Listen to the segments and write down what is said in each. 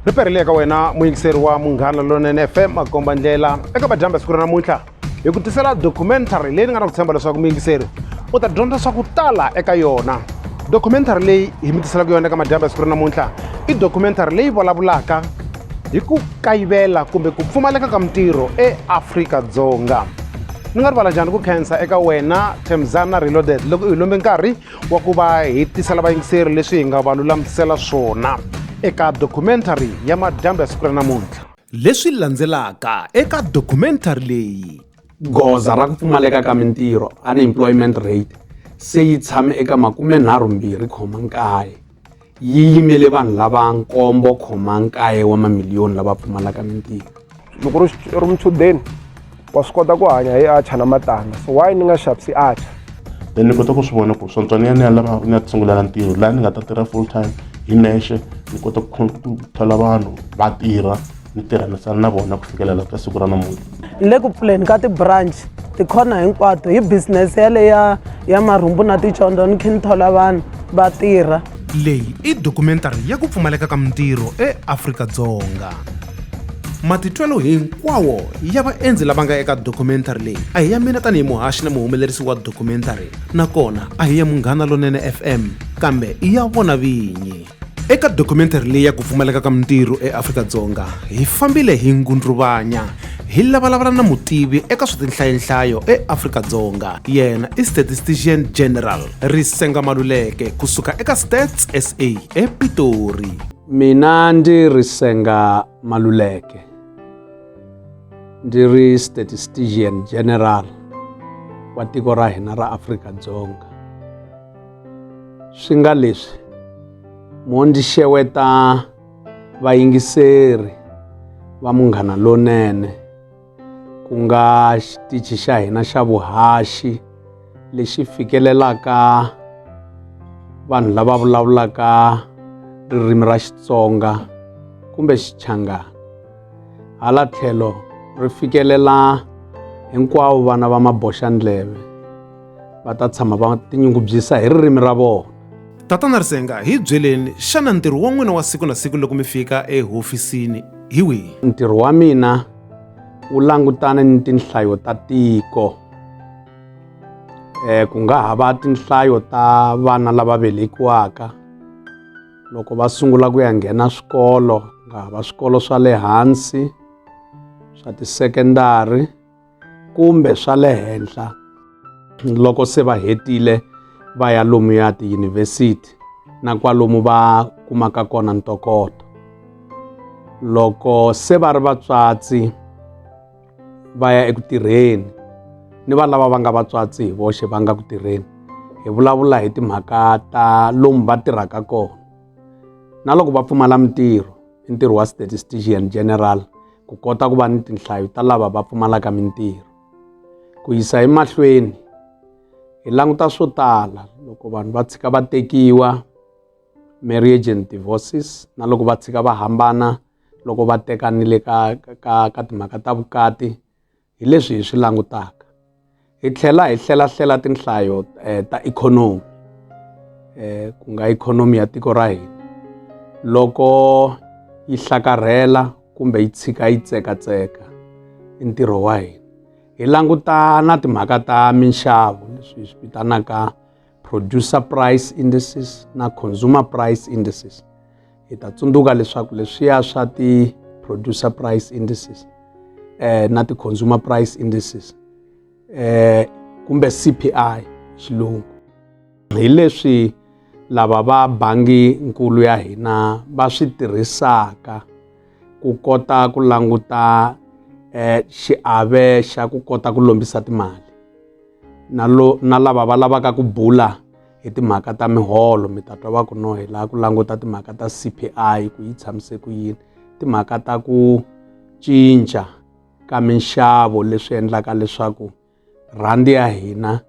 ri perile eka wena muyingiseri wa munghana lonene fm makomba ndlela eka vadyambi siku ra namuntlha hi ku tisela documentary leyi ni nga na ku tshemba leswaku muyingiseri u ta dyondza swa ku tala eka yona documentary leyi hi mi tiselaka yona eka madyambi siku ra namuntlha i documentary leyi vulavulaka hi ku kayivela kumbe ku pfumaleka ka mintirho eafrika-dzonga ni nga rivala njhani ku khensa eka wena themzana reloaded loko u hi lombe nkarhi wa ku va hi tisela vayingiseri leswi hi nga va lulamisela swona eka documentary ya madyambu ya siku ra namuntlha leswi landzelaka eka documentary leyi goza ra ku pfumaleka ka mintirho unemployment rate se yi tshame eka makumenharhumbirhi khoma nkaye yi yimele vanhu lava nkombo khoma nkaye wa mamiliyoni lava pfumalaka mintirho loko ri ri muchudeni wa swi kota ku hanya hi acha na matanga so why ni nga xavisi acha then ni kota ku swi vona ku swontswa ni ya ni ya lava ni ya tisungulela ntirho laha ni nga ta tirha full time hi nexe ni kota ku thola vanhu va tirha ni tirhanisana na vona ku fikelela ka siku ra namuntlha ni le ku pfuleni ka ti-branch tikhona hinkwato hi business yaleyo ya ya marhumbu na ticondzo ni khe ni thola vanhu va tirha leyi i dokumentari ya ku pfumaleka ka mintirho eafrika-dzonga matitwelo hinkwawo ya vaendzi lava nga eka dokumentari leyi a hi ya mina tanihi muhaxi na muhumelerisi wa dokumentari nakona a hi ya munghana lonene fm kambe i ya vona vinyi eka documentary leyi ya ku pfumaleka ka mintirho eafrika-dzonga hi fambile hi ngundruvanya hi lavalavula na mutivi eka swa tinhlayenhlayo eafrika-dzonga yena i statistician general risenga maluleke kusuka eka stats sa epitori mina ndi risenga maluleke ndi ri statistician general wa tiko ra hina ra afrika-dzonga swi nga leswi mo ndzi xeweta vayingiseri va munghana lonene ku nga xitichi xa hina xa vuhaxi lexi fikelelaka vanhu lava vulavulaka ririmi ra xitsonga kumbe xichangana hala tlhelo ri fikelela hinkwavo vana va maboxandleve va ta tshama va tinyungubyisa hi ririmi ra vona tatana risenga hi byeleni xana ntirho wa n'wina wa siku na siku loko mi fika ehofisini hi wihi ntirho wa mina wu langutane ni tinhlayo ta tiko um ku nga ha va tinhlayo ta vana lava velekiwaka loko va sungula ku ya nghena swikolo ku nga ha va swikolo swa le hansi swa tisekendari kumbe swa le henhla loko se va hetile va ya lomuya tiyunivhesiti na kwalomu va kumaka kona ntokoto loko se va ri vatswatsi va ya eku tirheni ni va lava va nga vatswatsi hi voxe va nga ku tirheni hi vulavula hi timhaka ta lomu va tirhaka kona na loko va pfumala mintirho i ntirho wa statistician general ku kota ku va ni tinhlayo ta lava va pfumalaka mintirho ku yisa emahlweni hi languta swo tala loko vanhu va tshika va tekiwa marriage and divorces na loko va tshika va hambana loko va tekanile ka ka ka timhaka ta vukati hi leswi hi swi langutaka hi tlhela hi hlelahlela tinhlayo eh, ta ikhonomi eh, ku nga ikhonomi ya tiko ra hina loko yi hlakarhela kumbe yi tshika yi tsekatseka i ntirho wa hina hi languta na timhaka ta minxavo leswi hi swi vitanaka producer price indices na consumer price indices hi ta tsundzuka leswaku leswiya swa ti-producer price indices eh, na ti-consumer price indices eh, kumbe CPI xilungu hi leswi lava va bangi nkulu ya hina va swi tirhisaka ku kota ku languta eh, xiave xa ku kota ku lombisa timali na lo na lava va lavaka ku bula hi timhaka ta miholo mi ta twa va ku no hi laha ku languta timhaka ta CPI ku yi tshamise ku yini timhaka ta ku cinca ka minxavo leswi endlaka leswaku rhandi ya hina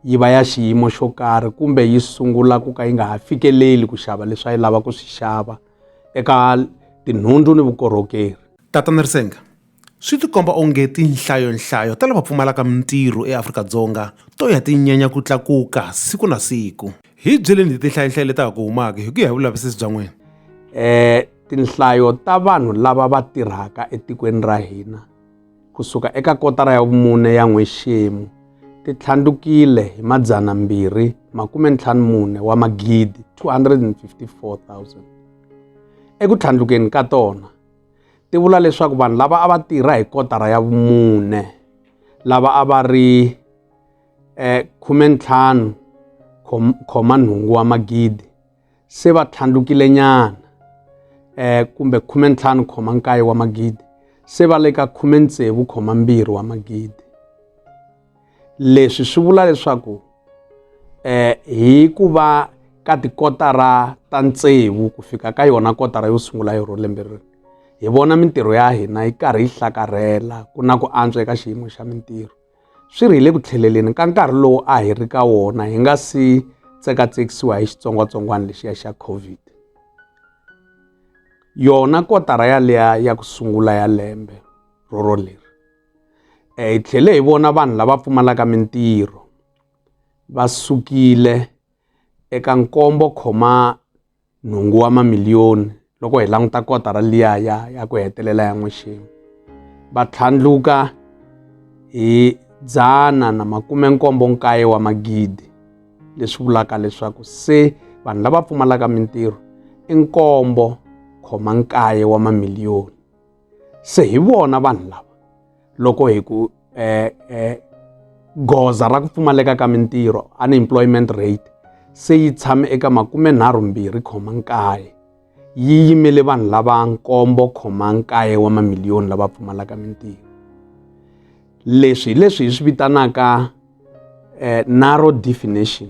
yi va ya xiyimo xo karhi kumbe yi sungula ku ka yi nga ha fikeleli ku xava leswi a yi lava ku swi xava eka tinhundzu ni vukorhokeri tatana risenga Swi tikomba onge tinhlayonhlayo ta lava pfumalaka mintirho eAfrika-Dzonga to ya ti nyanya ku tlakuka siku na siku. Hi byeleni hi tinhlayonhlayo leti ha ku humaka hi ku ya hi vulavisisi bya n'wina. Um tinhlayo ta vanhu lava va tirhaka etikweni ra hina kusuka eka kotara ya vumune ya n'wexemu ti tlhandlukile hi madzana mbirhi makume ntlhanu mune wa magidi 254 000 eku tlhandlukeni ka tona ti vula leswaku vanhu lava a va tirha hi kotara ya vumune lava a va ri eh, khume ntlhanu khoma nhungu wa magidi se va tlhandlukile nyana eh, kumbe khume ntlhanu khoma nkaye wa magidi se va le ka khume tsevu khoma mbirhi wa magidi leswi swi vula leswaku um hi ku va ka tikotara ta tsevu ku fika ka yona kotara yo sungula yo lembe ri hi vona mintirho ya hina yi karhi yi hlakarhela ku na ku antswa eka xiyimo xa mintirho swi ri hi le ku tlheleleni ka nkarhi lowu a hi ri ka wona hi nga si tsekatsekisiwa hi xitsongwatsongwana lexiya xa covid yona kotara yaleya ya ku sungula ya lembe roro leri eh, hi tlhele hi vona vanhu lava pfumalaka mintirho va sukile eka nkombo khoma nhungu wa mamiliyoni loko hi languta kotara liya ya ya ku hetelela ya n'wexemu va tlhandluka hi dzana na makume nkombo nkaye wa magidi leswi vulaka leswaku se vanhu lava pfumalaka mintirho i nkombo khoma nkaye wa mamiliyoni se hi vona vanhu lava loko hi ku eh, eh, goza ra ku pfumaleka ka mintirho unemployment rate se yi tshame eka makume nharhu mbirhi khoma nkaye yi yimele vanhu lava nkombo khoma nkaye wa mamiliyoni lava pfumalaka mintirho leswi hi leswi hi swi vitanaka eh, narrow definition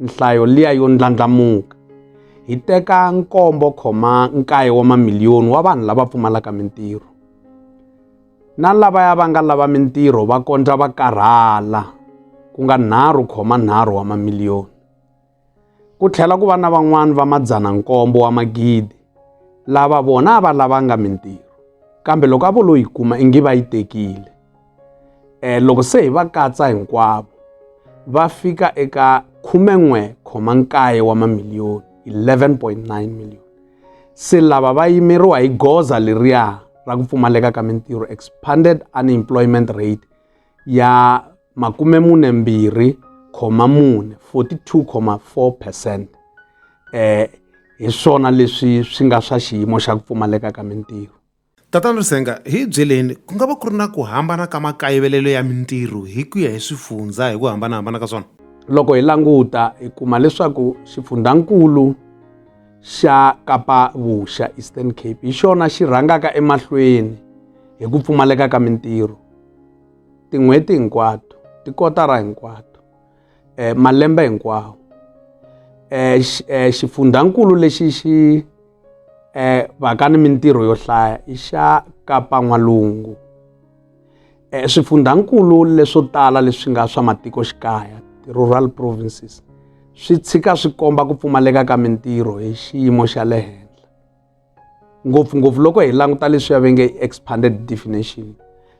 nhlayo liya yo ndlandlamuka hi teka nkombo khoma nkaye wa mamiliyoni wa vanhu lava pfumalaka mintirho na lavaya va nga lava mintirho va kondza va karhala ku nga nharhu khoma nharhu wa mamiliyoni ku tlhela ku va na van'wani va madzana nkombo wa magidi lava vona a va lavanga mintirho kambe loko a vo lo yi kuma ingi va yi tekile Eh, loko se hi va katsa hinkwavo va fika eka 19 wa mamiliyoni 11.9 million se lava va yimeriwa hi goza leriya ra ku pfumaleka ka mintirho expanded unemployment rate ya makume mune mbirhi khoma mune 42,4 percent um hi swona leswi swi nga swa xiyimo xa ku pfumaleka ka mintirho Tatana Lusenga, hi hi byeleni, ku nga va ku ri na ku hambana ka makayivelelo ya mintirho hi ku ya hi swifundzha hi ku hambanahambana ka swona? Loko hi languta hi kuma leswaku xifundzankulu xa Kapa Vuxa, Eastern Cape, hi xona xi rhangaka emahlweni hi ku pfumaleka ka mintirho tin'hweti hinkwato, tikotara hinkwato. eh, malembe hinkwawo eh, eh, xifundhankulu lexi xi eh, vaka ni mintirho yo hlaya i xa kapa n'walungu eh, swifundhankulu leswo tala leswi nga swa matikoxikaya ti-rural provinces swi tshika swi komba ku pfumaleka ka mintirho hi xiyimo xa le henhla ngopfungopfu loko hi languta leswi ya venge expanded definition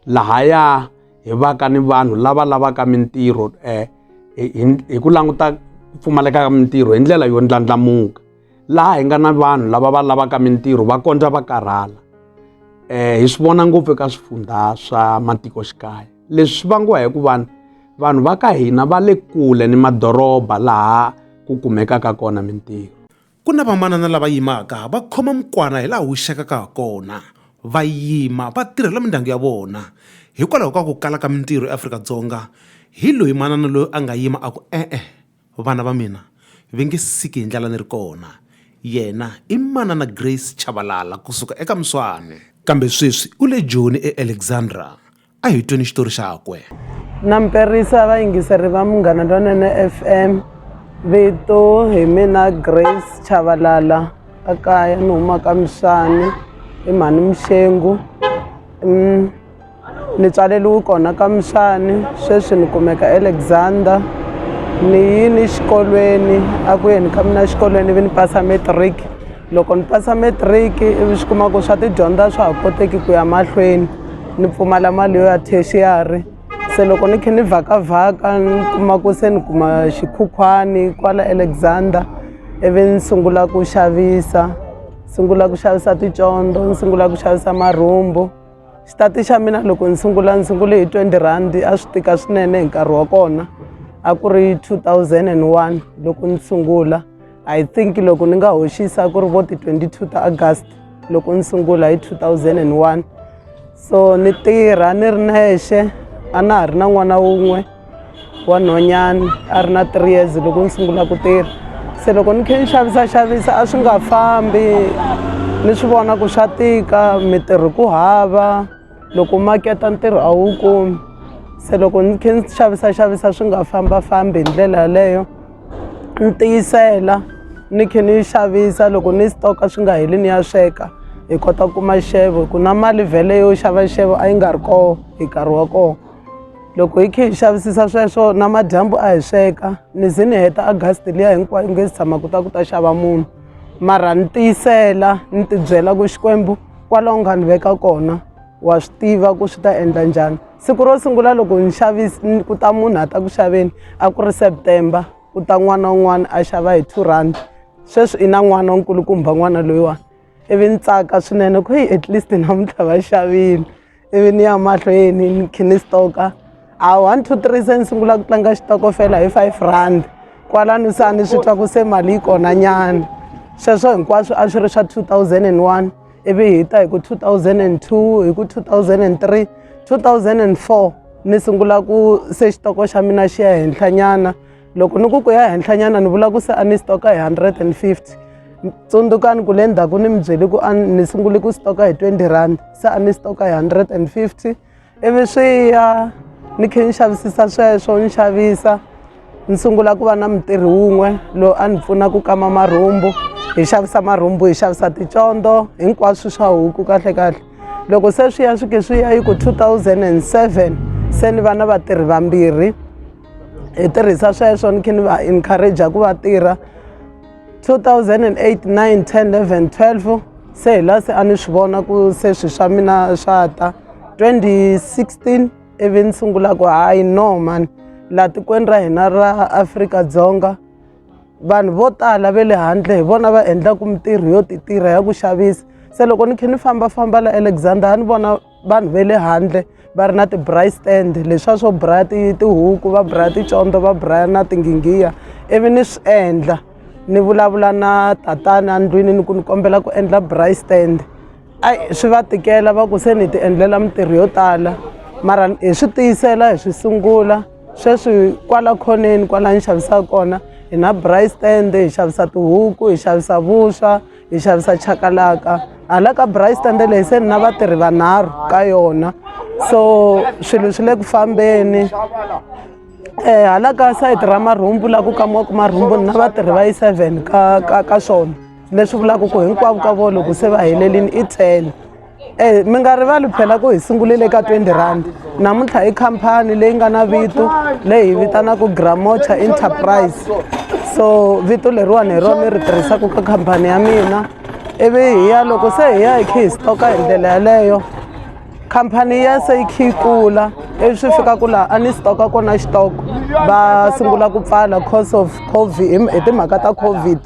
lahaya hi vaka ni vanhu lava lavaka mintirho um hi ku languta ku pfumaleka ka mintirho hi ndlela yo ndlandlamuka laha hi nga na vanhu lava va lavaka mintirho va kondza va karhala um hi swi vona ngopfu eka swifundha swa matikoxikaya leswi swi vangiwa hi ku vanhu vanhu va ka hina va le kule ni madoroba laha ku kumekaka kona mintirho Ku na vamanana lava yimaka va khoma mukwana hi laha wu xekaka ha kona, va yima va tirhela mindyangu ya vona. Hikwalaho ka ku kala ka mintirho eAfrika-Dzonga, hi loyi manana loyi a nga yima a ku, E-e, vana va mina va nge siki hi ndlala ni ri kona. Yena i Manana Grace Chabalala ku suka eka Mswane. Kambe sweswi u le Joni eAlexandra. a hi tweni xitori xakwe na mperisa vayingiseri va munghana lonene f m vito hi mina grace chavalala a kaya ni humaka mixani i mhani mixengu mm, ni tswaleliwi kona ka mixani sweswi ni kumeka alexander ni yini xikolweni a ku yeni ka mina xikolweni vi ni pasa matric loko ni pasa matric ivi swi kuma ku swa tidyondza swa ha koteki ku ya mahlweni ni pfumala mali yo ya tertiary se loko ni khe ni vhakavhaka ni kuma ku se ni kuma xikhukhwani kwala alexander ivi ni sungula ku xavisa sungula ku xavisa ticondo ni sungula ku xavisa marhumbu xitati xa mina loko ni sungula ni sungule hi 20 rhandi a swi tika swinene hi nkarhi wa kona a ku ri 2001 loko ni sungula i think loko ni nga hoxisa ku ri vo ti-22 ta august loko ni sungula hi 2001 so ni tirha ni ri nexe a na ha ri na n'wana wun'we wa nhonyani a ri na three years loko ni sungula ku tirha se loko ni khe ni xavisaxavisa a swi nga fambi ni swi vona ku swa tika mitirho ku hava loko maketa ntirho a wu kumi se loko ni khe ni xavisaxavisa swi nga fambafambi hi ndlela yaleyo ni tiyisela ni khe ni xavisa loko ni stoka swi nga heli ni ya sweka hi kota ku kuma xevo hi ku na mali vhele yo xava xevo a yi nga ri koho hi nkarhi wa koho loko hi khe hi xavisisa sweswo na madyambu a hi sweka ni ze ni heta agasti liya hinkwayo nge si tshama ku ta ku ta xava munhu mara ni tiyisela ni tibyela ku xikwembu kwalaho nga ni veka kona wa swi tiva ku swi ta endla njhani siku ro sungula loko ni xavisi ku ta munhu a ta ku xaveni a ku ri september ku ta n'wana un'wana a xava hi two rand sweswi i na n'wana nkulukumba n'wana loyiwani ivi ni tsaka swinene ku hi at least namuntlha va xavile ivi ni ya mahlweni ni khe ni stoka a one two three se ni sungula ku tlanga xitokofela hi five rand kwalano se a ni swi twa ku se mali yi kona nyana sweswo hinkwaswo a swi ri swa two thousand and one ivi hi ta hi ku two thousand and two hi ku two thousand and three two thousand and four ni sungula ku se xitoko xa mina xi ya henhlanyana loko ni ku ku ya henhlanyana ni vula ku se a ni stoka hi 150 tsundzukani ku le ndzhaku ni mi byeli ku ni sungule ku stoka hi 20 rand se a ni stoka hi 150 ivi swi ya ni khe ni xavisisa sweswo ni xavisa ni sungula ku va na mutirhi wun'we loyi a ni pfuna ku kama marhumbu hi xavisa marhumbu hi xavisa ticondo hinkwaswo swa huku kahle kahle loko se swi ya swi ke swi ya yi ku 2007 se ni va na vatirhi vambirhi hi tirhisa sweswo ni khe ni va encourage ku va tirha 2008 9 10 11 12 se hi la se a ni swi vona ku se swi swa mina swa ta 2016 ivi ni sungula ku hayi no mani laha tikweni ra hina ra afrika-dzonga vanhu vo tala ve le handle hi vona va endlaka mintirho yo ti tirha ya ku xavisa se loko ni khe ni fambafamba la alexander a ni vona vanhu va le handle va ri na ti-bry stand leswiya swo braya tihuku va braya ticondzo va braya na tinghingiya ivi ni swi endla ni vulavula na tatana endlwini ni ku ni kombela ku endla bry stand ai swi va tikela va ku se ni ti endlela mintirho yo tala mara hi swi tiyisela hi swi sungula sweswi kwala khoneni kwala ni xavisaka kona hi na bry stand hi xavisa tihuku hi xavisa vuswa hi xavisa chakalaka hala ka bry stande leyi se ni na vatirhi vanharhu ka yona so swilo swi le ku fambeni um hala ka sayiti ra marhumbu la ku kamiwaka marhumbu ni na vatirhi va yi seven ka ka ka swona leswi vulaka ku hinkwavo ka vo loko se va helelini i ten Eh, mi nga rivali phela ku hi sungulile eka 20 rand namuntlha i khampani leyi nga na vito leyi hi vitanaka gramocha enterprise so vito leriwani hi rona ri tirhisaka ka khampani ya mina ivi hi ya loko se hi ya hi khe hi stoka hi ndlela yaleyo khampani ya se yi khe yi kula ivi swi fika ku laha a ni stoka kona xitoko va sungula ku pfala cause of covid hi timhaka ta covid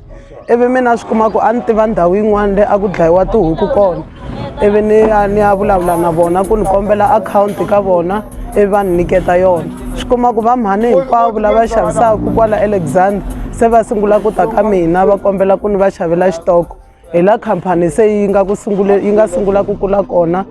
ivi mina swi kuma ku a ni tiva ndhawu yin'wana leyi a ku dlayiwa tihuku kona ivi ni ya ni ya vulavula na vona ku ni kombela akhawunti ka vona ivi va ni nyiketa yona swi kuma ku va mhani hinkwavo lava xavisaka kwala alexander se va sungula ku ta ka mina va kombela ku ni va xavela xitoko hi la khampani se yi nga ku sungule yi nga sungula ku kula kona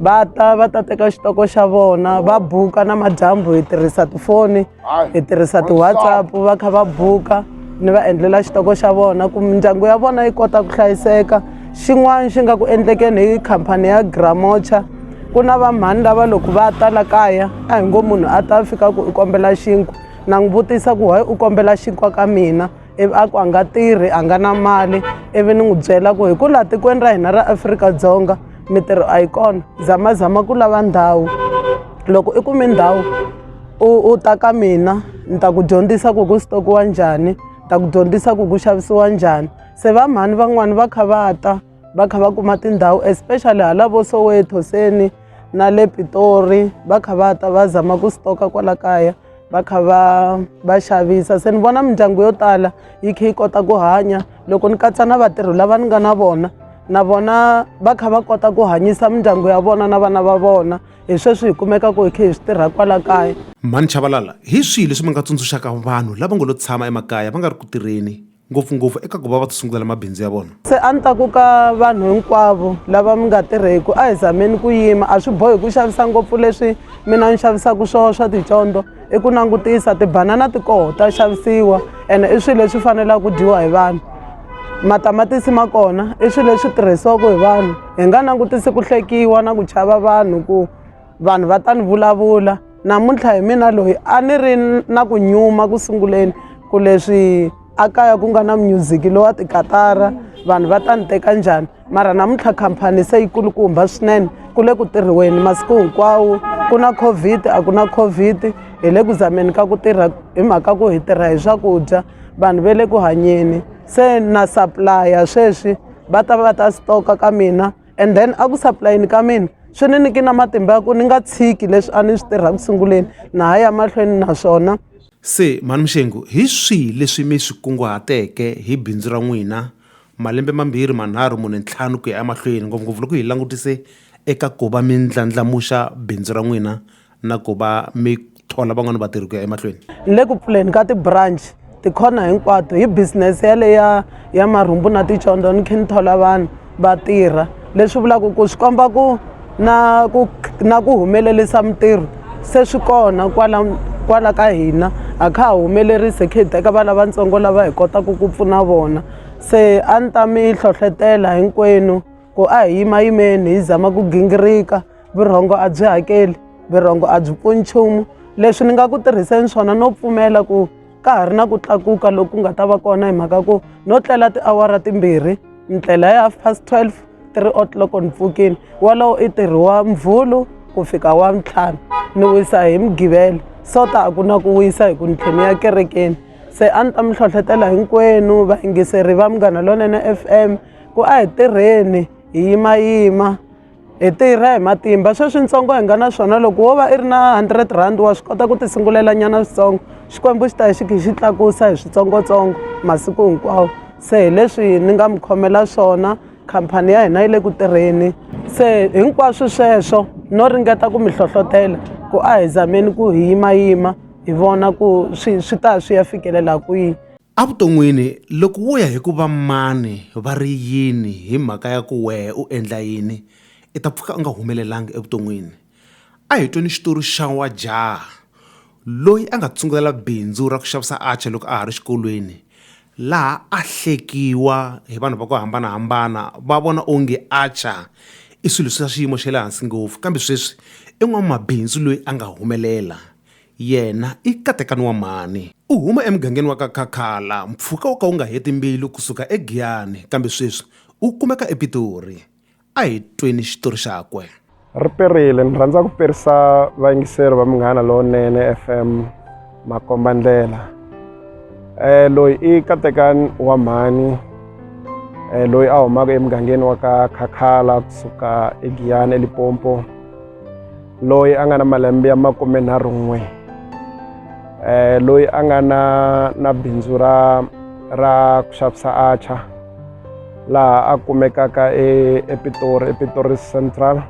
va ta va ta teka xitoko xa vona va buka na madyambu hi tirhisa tifoni hi tirhisa ti-whatsapp va kha va buka ni va endlela xitoko xa vona ku mindyangu ya vona yi kota ku hlayiseka xin'wana xi nga ku endlekeni hi khampani ya gramocha ku na vamhani lava loko va ta la kaya a hi ngo munhu a ta fika ku u kombela xinkwa na n'wi vutisa ku why u kombela xinkwa ka mina ivi a ku a nga tirhi a nga na mali ivi ni n'wi byela ku hi ku laha tikweni ra hina ra afrika-dzonga mintirho a yi kona zamazama ku lava ndhawu loko i kume ndhawu u u ta ka mina ni ta ku dyondzisa ku ku sitokiwa njhani ta ku dyondzisa ku ku xavisiwa njhani se va mhani van'wani va kha va ta va kha va kuma tindhawu especially hala vo soweto seni na le pitori va kha va ta va zama ku sitoka kwala kaya va kha va va xavisa se ni vona mindyangu yo tala yi kha yi kota ku hanya loko ni katsa na vatirhi lava ni nga na vona na vona va kha va kota ku hanyisa mindyangu ya vona na vana va vona hi sweswi hi kumekaka hi kha hi swi tirha kwala kaya mhani chavalala hi swihi leswi mi nga tsundzuxaka vanhu lava ngo lo tshama emakaya va nga ri ku tirheni ngopfungopfu eka ku va va ti sungulela mabindzu ya vona se a ni ta ku ka vanhu hinkwavo lava mi nga tirheku a hi zameni ku yima a swi bohi ku xavisa ngopfu leswi mina ni xavisaka swona swa ticondzo i ku langutisa tibanana ti koho ta xavisiwa ene i swilo leswi fanelaka ku dyiwa hi vanhu matamatisi ma kona i swilo leswi tirhisiwaka hi vanhu hi nga langutisi ku hlekiwa na ku chava vanhu ku vanhu va ta ni vulavula namuntlha hi mina loyi a ni ri na ku nyuma ku sunguleni ku leswi a kaya ku nga na munyuziki lowa tikatara vanhu va ta ni teka njhani mara namuntlha khampani se yi kulukumba swinene ku le ku tirhiweni masiku hinkwawo ku na covid a ku na covid hi le ku zameni ka ku tirha hi mhaka ku hi tirha hi swakudya vanhu va le ku hanyeni se na supplya sweswi va ta va ta stoka ka mina and then a ku saplayeni ka mina swi ni niki na matimba ya ku ni nga tshiki leswi a ni swi tirha ku sunguleni na ha ya mahlweni naswona se mhani muxengu hi swihi leswi mi swi kunguhateke hi bindzu ra n'wina malembe mambirhi manharhu mune ntlhanu ku ya emahlweni ngopfungopfu loko hi langutise eka ku va mi ndlandlamuxa bindzu ra n'wina na ku va mi thola van'wani vatirhi ku ya emahlweni ni le ku pfuleni ka ti-branch tikhona hinkwato hi business yaleya ya marhumbu na ticondzo ni khe ni thola vanhu va tirha leswi vulaka ku swi komba ku na ku na ku humelerisa mintirho se swi kona kwala kwala ka hina a kha ha humelerise khe hi teka va lavatsongo lava hi kotaka ku pfuna vona se a ni ta mi hlohlotela hinkwenu Ku a hi yimayimeni hi zama ku gingirika, vurhongo a byi hakeli, vurhongo a byi pfuni nchumu. Leswi ni nga ku tirhiseni swona no pfumela ku ka ha ri na ku tlakuka loku ku nga ta va kona hi mhaka ku no tlela tiawara timbirhi ni tlela hi half past 12 three o'clock ni pfukini wolowo i ntirho wa muvhulu ku fika wa ntlhanu ni wisa hi mugivelo so ta a ku na ku wisa hi ku ni tlhela ni ya kerekeni se a ni ta mi hlohlotela hinkwenu vayingiseri va munghana lonene F_M. Ku a hi tirheni hi yimayima hi tirha hi matimba sweswi ntsongo hi nga na swona loko wo va i ri na hundred rand wa swi kota ku ti sungulela nyana switsongo xikwembu xi ta hi xi khe xi tlakusa hi switsongotsongo masiku hinkwawo se hi leswi ni nga mi khomela swona khampani ya hina yi le ku tirheni se hinkwaswo sweswo no ringeta ku mi hlohlotela ku a hi zameni ku hi yimayima hi vona ku swi swi ta swi ya fikelela kwihi Evuton'wini, loko wo ya hi ku va mani va ri yini hi mhaka ya ku wehe u endla yini, i ta pfuka u nga humelelanga evuton'wini. A hi tweni xitori xa wa jaha loyi a nga tsungulela bindzu ra ku xavisa atchaar loko a ha ri xikolweni, laha a hlekiwa hi vanhu va ku hambanahambana va vona onge atchaar i swilo swa xiyimo xa le hansi ngopfu. Kambe sweswi i n'wamabindzu loyi a nga humelela Yena i katekani wa mhani. U huma emugangeni wa ka Khakhala, mpfhuka wo ka wu nga heti mbilu ku suka eGiyani, kambe sweswi u kumeka ePitori. A hi tweni xitori xakwe. Ri perile. Ni rhandza ku perisa vayingiseri va Munghana Lowunene FM makombandlela. Eh, loyi i katekani wa mhani eh, loyi a humaka emugangeni wa ka Khakhala kusuka eGiyani eLipompo. loyi a nga na malembe ya makumenharhun'we um eh, loyi a nga na na bindzu ra ra ku xavisa acha laha a kumekaka e, epitori epitori central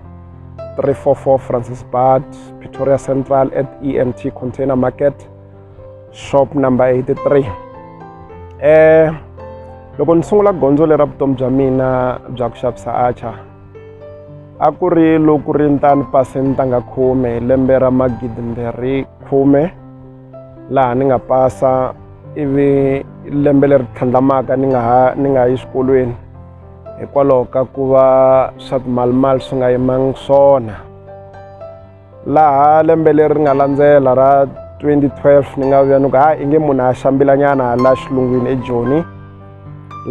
344 francis bad pretoria central at emt container market shop number 83 um eh, loko ni sungula gondzo lera vutomi bya mina bya ku xavisa acha a ku ri loku ri ntani pasini ta nga khume hi lembe ra magidi mbirhi khume laha ni nga pasa ivi lembe leri tlhandlamaka ni nga ha ni nga yi xikolweni hikwalaho ka ku va swa timalimali swi nga yimangi swona laha lembe leri nga landzela ra 2012 ni nga vuya ni ku ha inge munhu a xambilanyana la xilungwini ejoni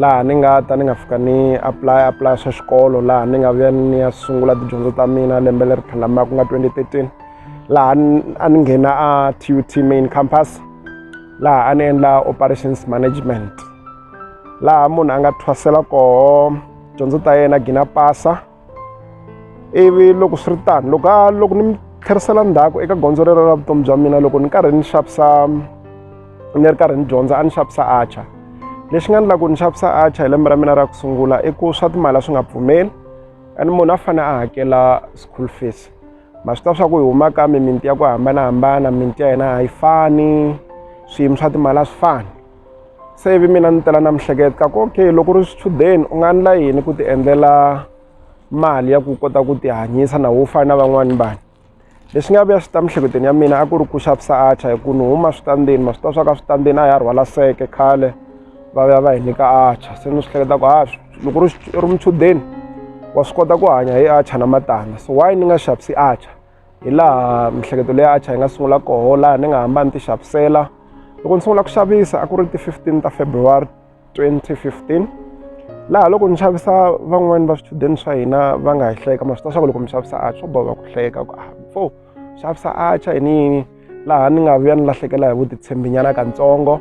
laha ni nga ta ni nga fika ni apply apply swa xikolo laha ni nga vuya ni ya sungula tidyondzo ta mina lembe leri tlhelamaka ku nga 2013 laha a ni nghena a tut main campus laha a ni endla operations management laha munhu a nga thwasela koho dyondzo ta yena gina pasa ivi loko swi ri tano loko a loko ni mi tlherisela ndzhaku eka gondzo rero ra vutomi bya mina loko ni karhi ni xavisa ni ri karhi ni dyondza a ni xavisa archer lexi nga endla ku ni xavisa archer hi lembe ra mina ra ku sungula i ku swa timali a swi nga pfumeli and munhu a fanele a hakela school fees ma swi ta swa ku hi huma ka mimiti ya ku hambanahambana mimiti ya hina a yi fani swiyimo swa timali a swi fani se ivi mina ni tela na mihleketo ka ku okay loko ri swichudeni u nga endla yini ku ti endlela mali ya ku kota ku ti hanyisa na wo fana na van'wani vanhu leswi nga vuya swi ta mihleketelweni ya mina a ku ri ku xavisa acha hi ku ni huma switandzeni ma swi ta swa ka switandzeni a ya rhwala seke khale va vuya va hi nyika acha se ni swi hleketa ku ha loko ri ri muchudeni wa swi kota ku hanya hi acha na matandza so why ni nga xavisi acha hi laha miehleketo leyi acha yi nga sungula koho laha ni nga hamba ni ti xavisela loko ni sungula ku xavisa a ku ri ti-fifteen ta february 2015 laha loko ni xavisa van'wani va swichudeni swa hina va nga hi hleka ma swi ta swa ku loko mi xavisa acha swo boha ku hleka ku a fo xavisa acha yini yini laha ni nga vuya ni lahlekela hi vutitshembinyana katsongo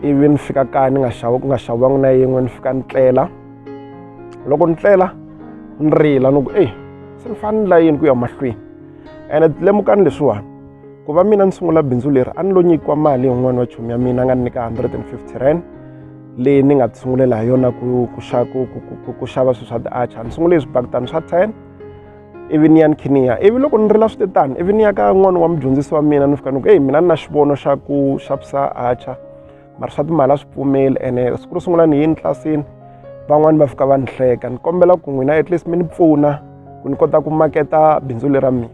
ivi ni fika kaya ni nga xava ku nga xaviwangi na yin'we ni fika ni tlela loko ni tlela ni rila ni ku eyi se ni fanele ni la yini ku ya mahlweni ene lemukani leswiwani ku va mina ni sungula bindzu leri a ni lo nyikiwa mali hi un'wana wa chomi ya mina a nga ni nyika 150 rand leyi ni nga tisungulela hi yona ku ku ku ku ku ku xava swilo swa ti-archer ni sungule hi swibakitani swa ten ivi ni ya ni khe ni ya ivi loko ni ri la swi te tani ivi ni ya ka n'wana wa mudyondzisi wa mina ni fika ni ku eyi mina ni na xivono xa ku xa ku sa acha mara swa timali a swi pfumeli ene siku ro sungula ni yini tlilasini van'wani va fika va ni hleka ni kombela ku n'wina at least mi ni pfuna ku ni kota ku maketa bindzu lera mina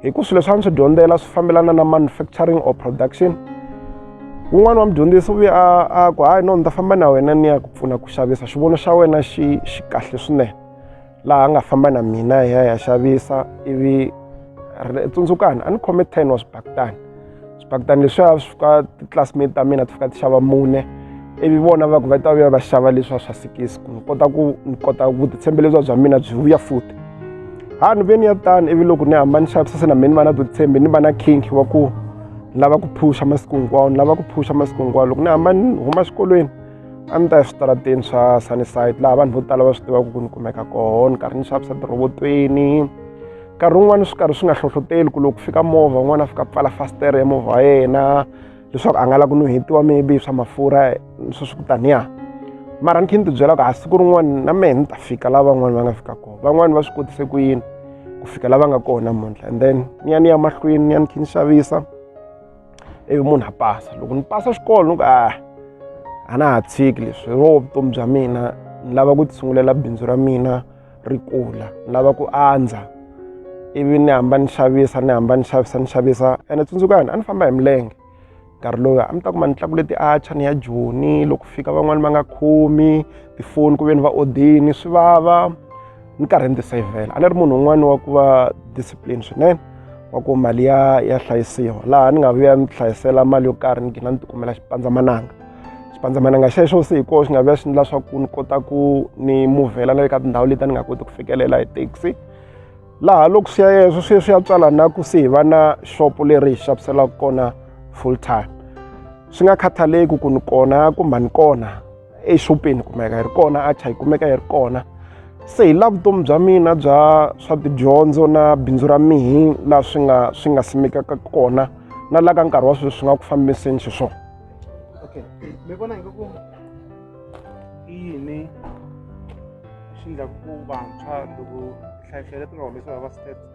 hi ku swilo leswi a ni swi dyondzela swi fambelana na manufacturing or production wun'wana wa mudyondzisi u ve a a ku hayi no ni ta famba na wena ni ya ku pfuna ku xavisa xivono xa wena xi xi kahle swinene laha a nga famba na mina hi ya hi ya xavisa ivi tsundzukani a ni khome ten wa swibakitani swibakitani leswiya swi fika ti-classmate ta mina ti fika ti xava mune ivi vona va ku va ta vuya va xava leswiya swa sikisi ku ni kota ku ni kota vutitshembi lebyiwa bya mina byi vuya futi ha ni ve ni ya tani ivi loko ni hamba ni xavisa se na mina ni va na vutitshembi ni va na kink wa ku ni lava ku phusha masiku hinkwawo ni lava ku phusha masiku hinkwawo loko ni hamba ni huma xikolweni a ni ta eswitarateni swa sunnyside laha vanhu vo tala va swi tivaka ku ni kumeka koho ni karhi ni xavisa tirhobotweni nkarhi wun'wani swi karhi swi nga hlohloteli ku loko ku fika movha un'wana a fika pfala fastere ya movha wa yena leswaku a nga la ku nuhetiwa maybe swa mafurha swi swi kutaniya mara ni khe ni tibyela ku ha siku rin'wani na mehe ni ta fika laha van'wani va nga fika kona van'wani va swi kotise ku yini ku fika la va nga kona muntlha and then ni ya ni ya mahlweni ni ya ni khe ni xavisa ivi munhu a pasa loko ni pasa xikolo ni ku a ah, a na ha tshiki leswi ro vutomi bya mina ni lava ku tisungulela bindzu ra mina ri kula ni lava ku andza ivi ni hamba ni xavisa ni hamba ni xavisa ni xavisa ene tsundzukani a ni famba hi milenge nkarhi lowu a mi ta kuma ni tlakule ti-archer ni ya joni loko fika van'wani va nga khomi tifoni ku ve ni va odini swi vava ni karhi ni tisayivhela a ni ri munhu un'wana wa ku va discipline swinene wa ku mali ya ya hlayisiwa laha ni nga vuya ni hlayisela mali yo karhi ni gina ni tikumela xipandzamananga xipandzamananga xexo se hi koho xi nga vuya xi endla swa ku ni kota ku ni muvhela na le ka tindhawu leti a ni nga koti ku fikelela hi taxi laha loko swi ya yeswo swi swi ya tswala na ku se hi va na xopo leri hi xaviselaka kona full time swi nga khathaleki ku ni kona kumbe a ni kona exopeni kumeka yi ri kona acha yi kumeka yi ri kona se hi la vutomi bya mina bya swa tidyondzo na bindzu ra mihi laha swi nga swi nga simekaka kona na la ka nkarhi wa sweswi swi nga ku fambiseni xiswona okay mi vona ingaku i yini xi endlaku ku vantshwa loko nhlayiso leti nga humesiwa va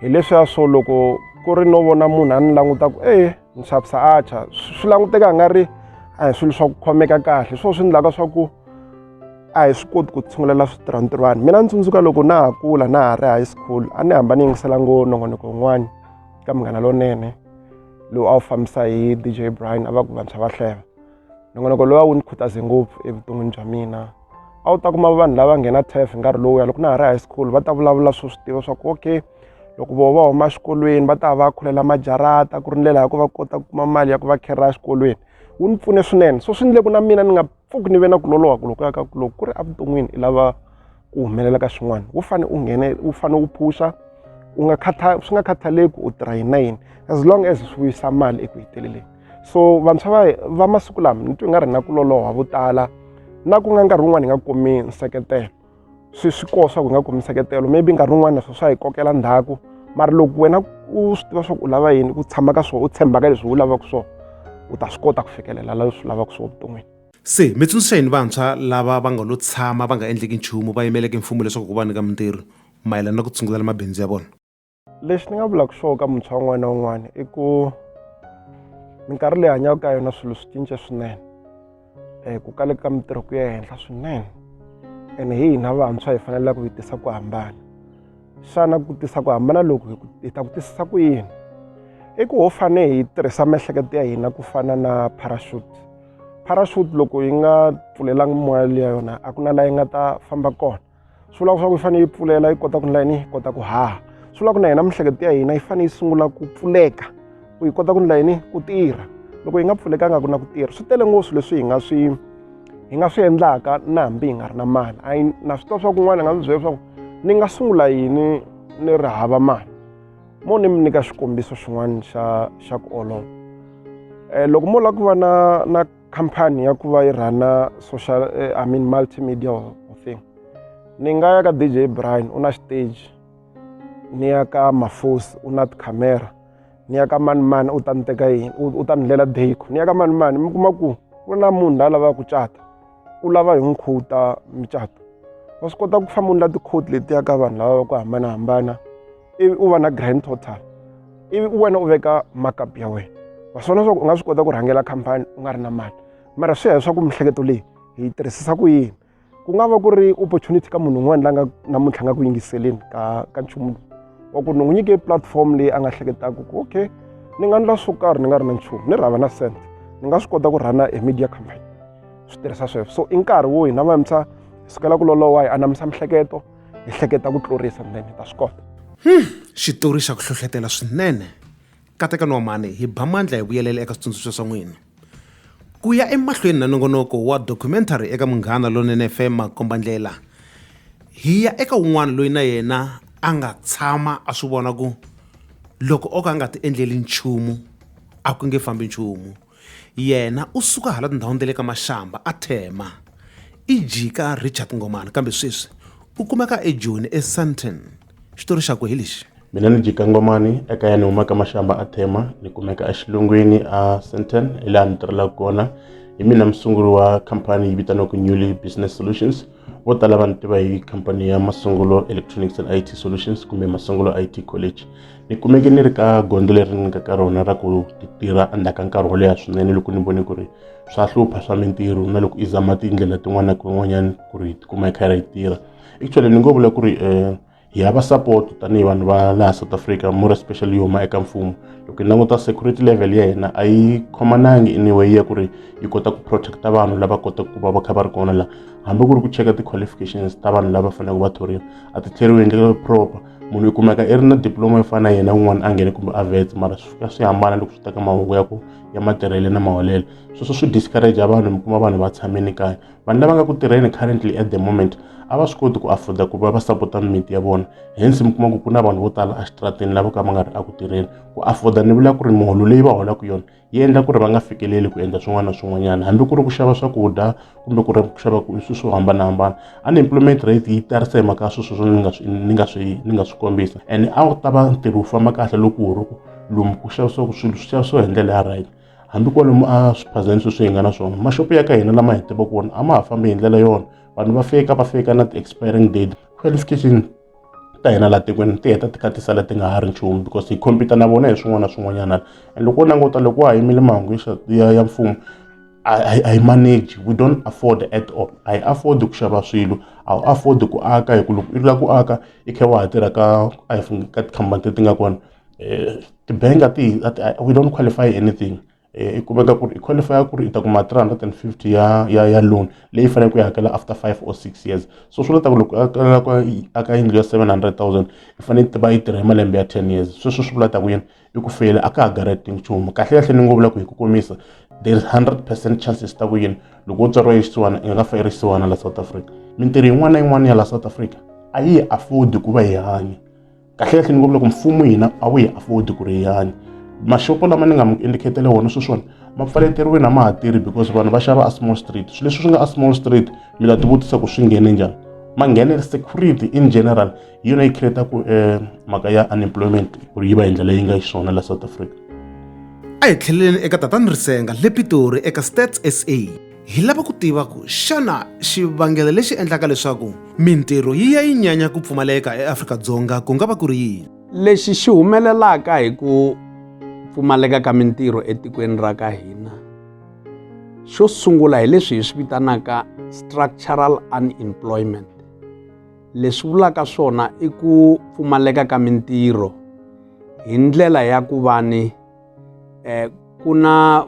hi leswiya swo loko ku ri no vona munhu a ni languta ku e ni xavisa acha swi languteka a nga ri a hi swilo swa ku khomeka kahle swo swi endlaka swa ku a hi swi koti ku tshungulela switirhantirhwani mina ni tsundzuka loko na ha kula na ha ri high school a ni hamba ni yingisela ngo nongonoko wun'wani ka munghana lonene lowu a wu fambisa hi dj brian a va ku vantshwa va hleva nongonoko lowu a wu ni khutaze ngopfu evuton'wini bya mina a wu ta kuma vanhu lava nghena taf hi nkarhi lowuya loko na ha ri high school va ta vulavula swo swi tiva swa ku okay loko vo va huma exikolweni va ta va va khulela majarata ku ri ndlela ya ku va kota ku kuma mali ya ku va khera exikolweni wu ni pfune swinene so swi ndleku na mina ni nga pfuki ni ve na ku loloha ku loko ya ka ku loko ku ri evuton'wini i lava ku humelela ka swin'wana wu fane u nghene wu fane wu phuxa u nga khatha swi nga khathaleki u tirha yini na yini as long as swi vuyisa mali eku heteleleni so vantshwa va va masiku lama ni twi nga ri na ku loloha vo tala na ku nga nkarhi wun'wani hi nga kumi nseketelo swi swi koho swa ku hi nga kumi nseketelo maybe nkarhi wun'wani na swo swa hi kokela ndhaku mara loko wena u swi tiva swa ku u lava yini ku tshama ka swona u tshembaka leswi u lavaka swona u ta swi kota ku fikelela la swi lavaka swona vuton'wini se mi tsundzuxa yini vantshwa lava va nga lo tshama va nga endleki nchumu va yimeleke mfumo leswaku ku va nyika mintirho mayelana na ku tshungulela mabindzu ya vona lexi ni nga vulaka swona ka muntshwa un'wana na un'wana i ku minkarhi leyi hanyaka ka yona swilo swi cince swinene um ku kaleka ka mintirho ku ya henhla swinene ene hi hina vantshwa hi faneleke hi tisa ku hambana xana ku tisa ku hambana loku hi ta ku tisisa ku yini i ku ho fane hi tirhisa miehleketo ya hina ku fana na parachute parachute loko yi nga pfulelanga moya liya yona a ku na laha yi nga ta famba kona swi vula leswaku yi fanele yi pfulela yi kota ku ndla yini yi kota ku haha swi vula ku na hina miehleketo ya hina yi fanele yi sungula ku pfuleka ku yi kota ku ndla yini ku tirha loko yi nga pfulekanga ku na ku tirha swi tele ngopfu leswi hi nga swi hi nga swi endlaka na hambi hi nga ri na mali a na swi tiva swa kun'wana hi nga swi byela leswaku ni nga sungula yini ni ri hava mali mo ni mi nyika xikombiso xin'wana xa xa ku olova um loko mo lava ku va na na khampani ya ku va yi rhana social eh, i mean multimedia thing ni nga ya ka dj brian u na stage ni ya ka mafosi u na tikhamera ni ya ka manimani u ta ni teka yini u ta ni ndlela deko ni ya ka manimani mi kuma ku ku na munhu la lavaka ku cata u lava hi nkhuta micato wa swi kota ku famba u ndla tikhoti letiya ka vanhu lava va ku hambanahambana ivi u va na grand total ivi u wena u veka markup ya wena wa swona leswaku u nga swi kota ku rhangela khampani u nga ri na mali mara swi ya leswaku miehleketo leyi hi yi tirhisisa ku yini ku nga va ku ri opportunity ka munhu un'wana la nga namuntlha nga ku yingiseleni ka ka nchumu wa ku ni n'wi nyike platform leyi a nga hleketaka ku okay ni nga ndla swo karhi ni nga ri na nchumu ni rhava na cent ni nga swi kota ku rhana e media company swi tirhisa sweswo so i nkarhi wo hina vantshwa hi sukela ku lolowa hi anamisa miehleketo ni hleketa ku tlurisa nene ta swi kota hmm, xitori xa ku hlohletela swinene katekani wa mhani hi ba mandla hi vuyelela eka switsundzuxo swa n'wina ku ya emahlweni na nongonoko wa documentary eka munghana lonene fm makombandlela hi ya eka un'wana loyi na yena a nga tshama a swi vona ku loko o ka a nga ti endleli nchumu a ku nge fambi nchumu Yena u suka hala tindhawini ta le ka Mashamba a Thema, i jika Richard Ngomana kambe sweswi u kumeka eJoni eSandton. Xitori xakwe hi lexi. Mina ni jika Ngomani ekaya ni humaka Mashamba a Thema ni kumeka exilungwini a Sandton hi laha ni tirhelaka kona. Hi mina musunguri wa khampani yi vitaniwaka Newly Business Solutions vo tala va ni tiva hi khampani ya masungulo electronics and it solutions kumbe masungulo it college ni kumeke ni ri ka gondzo leri ni nga ka rona ra ku tirha endzhaku ka nkarhi wo leha swinene loko ni vone ku ri swa hlupha swa mintirho na loko i zama tindlela tin'wana na tin'wanyana ku ri hi tikuma hi karhi hi tirha actually ni ngo vula ku ri um hi hava support tanihi vanhu va laha south africa more especially yo huma eka mfumo loko hi languta security level ya hina a yi khomanangi anyway ya ku ri yi kota ku protecta vanhu lava kotaka ku va va kha va ri kona laha hambi ku ri ku cheka ti-qualifications ta vanhu lava faneleke va thoriwa a ti tlheriwi hi ndlela proper munhu i kumeka i ri na diploma yo fana na yena un'wana a nghene kumbe a vetse mara swi fika swi hambana loko swi ta ka mahungu ya ku ya matirhele na maholelo sweswo swi discourage vanhu mi kuma vanhu va tshamini kaya vanhu lava nga ku tirheni currently at the moment a va swi koti ku afforda ku va va sapota mimiti ya vona hence mi kuma ku ku na vanhu vo tala exitrateni lavo ka va nga ri eku tirheni ku afforda ni vula ku ri miholo leyi va holaka yona yi endla ku ri va nga fikeleli ku endla swin'wana na swin'wanyana hambi ku ri ku xava swakudya kumbe ku ri ku xava ku swilo swo hambanahambana unemployment rate yi tarisa hi mhaka ya sweswo ni nga swi ni nga swi ni nga swi kombisa and a wu ta va ntirho wu famba kahle loko wu ri ku lomu ku xavisiwaka swilo swi xavisiwa hi ndlela ya right hambi kwalomu a swiphazeni sweswi hi nga na swona maxopo ya ka hina lama hi tivaka wona a ma ha fambi hi ndlela yona vanhu va fika va fika na ti-expiring date qualification ta hina laha tikweni ti heta ti ka ti sala ti nga ha ri nchumu because hi khompyuta na vona hi swin'wana na swin'wanyana and loko wo languta loko wa ha yimile mahungu ya ya mfumo a yi manage we don't afford at all a yi afford ku xava swilo a wu afford ku aka hi ku loko i lava ku aka i kha wa ha tirha ka ka tikhampani leti nga kona um tibank a ti we don't qualify anything eh, i kumeka ku ri i qualify ku ri i ta kuma 350 ya ya ya loan leyi fanele ku yi hakela after 5 or 6 years so swi leta ku loko akala ku aka yindlu ya 700000 i fanele yi tiva yi tirha hi malembe ya 10 years sweswo swi vulata ku yini i ku feyile a ka ha garanti nchumu kahle kahle ni ngo vula ku hi ku komisa there is 100 percent chances ta ku yini loko u tswariwa yisiwana i nga fa i ri siwana la south africa mintirho yin'wana na yin'wana ya la south africa a yi afford ku va hi hanya kahlekahle ni ngo loko mfumo hina a wu hi afford ku ri yani mashopo lama ni nga mi indicatele wona sweswiwani ma pfaleteriwini a ma ha tirhi because vanhu va xava a small street swilo leswi swi nga a small street mi nga tivutisa ku swi nghene njhani ma nghenele security in general hi yona yi creataku um eh, mhaka ya unemployment ku ri yi va hi ndlela yi nga xiswona la south africa a hi tlheleleni eka tatani risenga le pitori eka stats sa hi lava ku tiva ku xana xivangelo lexi endlaka leswaku mintirho yi ya yi nyanya ku pfumaleka eAfrika-Dzonga ku nga va ku ri yini lexi xi humelelaka hi ku pfumaleka ka mintirho etikweni ra ka hina xo sungula hi leswi hi swi vitanaka structural unemployment leswi vulaka swona i ku pfumaleka ka mintirho hi ndlela ya ku va ni eh, ku na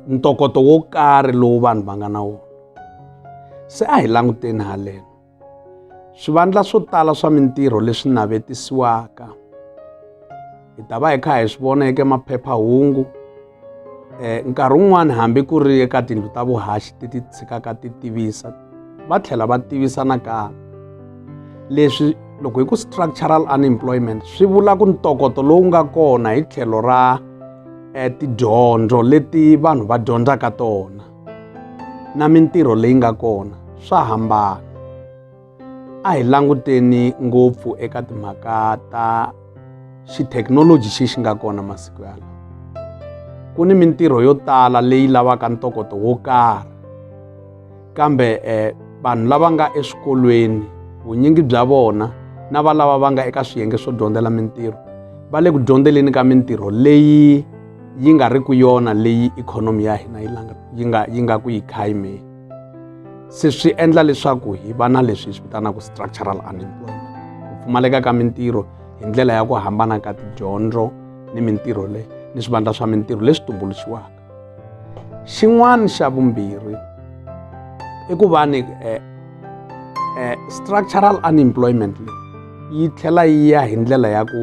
ntokoto wo karhi lowu vanhu va nga na wona se a hi languteni haleno swivandla swo tala swa mintirho leswi navetisiwaka hi ta va hi kha hi swi vona eka maphephahungu um nkarhi wun'wani hambi ku ri eka tindlu ta vuhaxi ti ti tshikaka ti tivisa va tlhela va tivisa nakambe leswi loko hi ku structural unemployment swi vula ku ntokoto lowu nga kona hi tlhelo ra eh, tidyondzo leti vanhu va dyondzaka tona na mintirho leyi nga kona swa hambana a hi languteni ngopfu eka timhaka ta xithekinoloji xi xi nga kona masiku yalawa ku ni mintirho yo tala leyi lavaka ntokoto wo karhi kambe um vanhu lava nga eswikolweni vunyingi bya vona na valava va nga eka swiyenge swo dyondzela mintirho va le ku dyondzeleni ka mintirho leyi yi nga ri ku yona leyi ikhonomi ya hina yi yi nga yi nga ku yi khayimeni se swi endla leswaku hi va na leswi hi swi vitanaka structural unemployment ku pfumaleka ka mintirho hi ndlela ya ku hambana ka tidyondzo ni mintirho leyi ni swivandla swa mintirho leswi tumbuluxiwaka xin'wana xa vumbirhi i ku va ni eh, eh, structural unemployment leyi yi tlhela yi ya hi ndlela ya ku